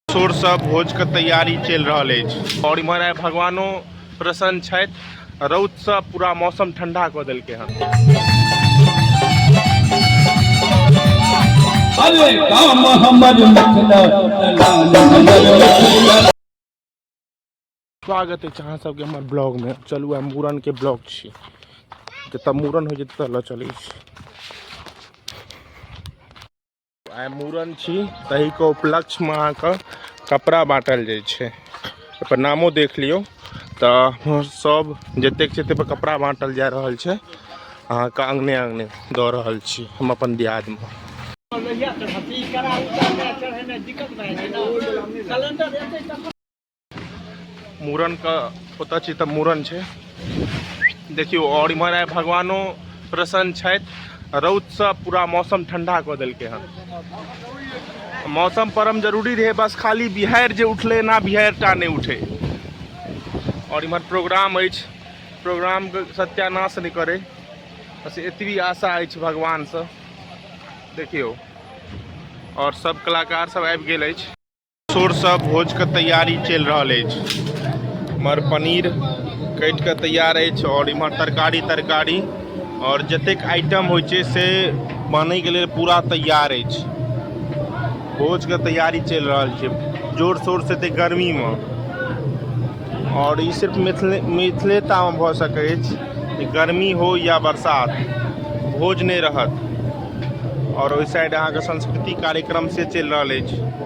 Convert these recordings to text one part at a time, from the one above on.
जोरसँ भोजके तैयारी चलि रहल अछि आओर इम्हर आइ भगवानो प्रसन्न छथि रौदसँ पूरा मौसम ठंडा कऽ देलकै हन अरे काम हमर मिथिला काम हमर मिथिला स्वागत अछि अहाँ सबके हमर ब्लॉगमे चलू आइ मूड़नके ब्लॉग छी जतऽ मूड़न होइ छै ततऽ लऽ चलै छी आइ मूड़न छी तहीके उपलक्ष्यमे अहाँके कपड़ा बाँटल जाइ छै ओहिपर नामो देख लियौ तऽ सभ जतेक छै ताहिपर कपड़ा बाँटल जा रहल छै अहाँके अङ्गने अङ्गने दऽ रहल छी हम अपन दियादमे मूड़नके ओतऽ छी तऽ मूड़न छै देखियौ आओर इम्हर आइ भगवानो प्रसन्न छथि रौदसँ पूरा मौसम ठंडा कऽ देलकै हन मौसम परम जरूरी रहै बस खाली बिहारि जे उठलै ना बिहारि टा नहि उठै आओर इम्हर प्रोग्राम अछि प्रोग्रामके सत्यानाश नहि करै बस एतबी आशा अछि भगवानसँ देखियौ आओर सब कलाकार सब आबि गेल अछि शोरसँ भोजके तैयारी चलि रहल अछि इमहर पनीर कटि कऽ तैयार अछि आओर इमहर तरकारी तरकारी आओर जतेक आइटम होइ छै से बनैके लेल पूरा तैयार अछि भोजके तैयारी चलि रहल छै जोर शोरसँ एतेक गर्मीमे आओर ई सिर्फ मिथिले मिथिले तामे भऽ सकै अछि गर्मी हो या बरसात भोज नहि रहत आओर ओहि साइड अहाँके संस्कृति कार्यक्रम से चलि रहल अछि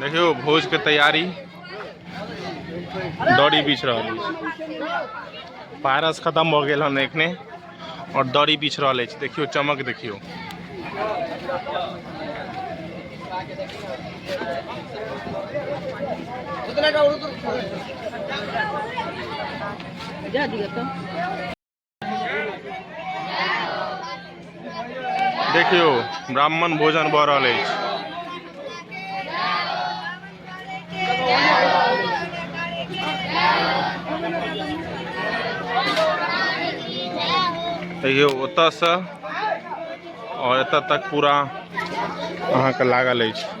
देखियौ भोजके तैयारी दड़ी बीछ रहल अछि पारस खतम भऽ गेल हन एखने आओर दड़ी बीछ रहल अछि देखियौ चमक देखियौ जा दिअ तऽ देखियो ब्राह्मण भोजन भ रहल अछि देखियौ ओतयसँ आओर एतय तक पूरा अहाँके लागल अछि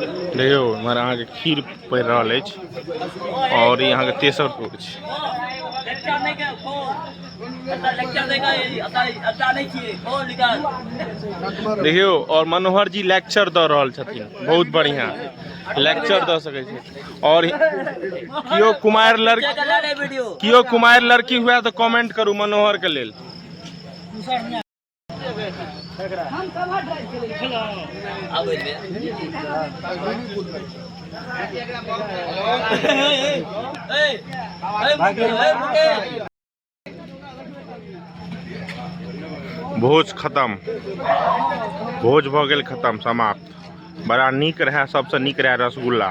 देखियौ इम्हर अहाँके खीर पड़ि रहल अछि आओर ई अहाँके तेसर टोक छै देखियौ और मनोहर जी लेक्चर दऽ रहल छथिन बहुत बढ़िया लेक्चर दऽ सकै छी और कियो कुमार लड़की कियो कुमार लड़की हुए तऽ कमेंट करू मनोहर के लेल हम कवर ड्राइव के लिए अब एबे ए ए मुके भोज खत्म भोज भऽ गेल खत्म समाप्त बड़ा नीक रहए सभसँ नीक रहए रसगुल्ला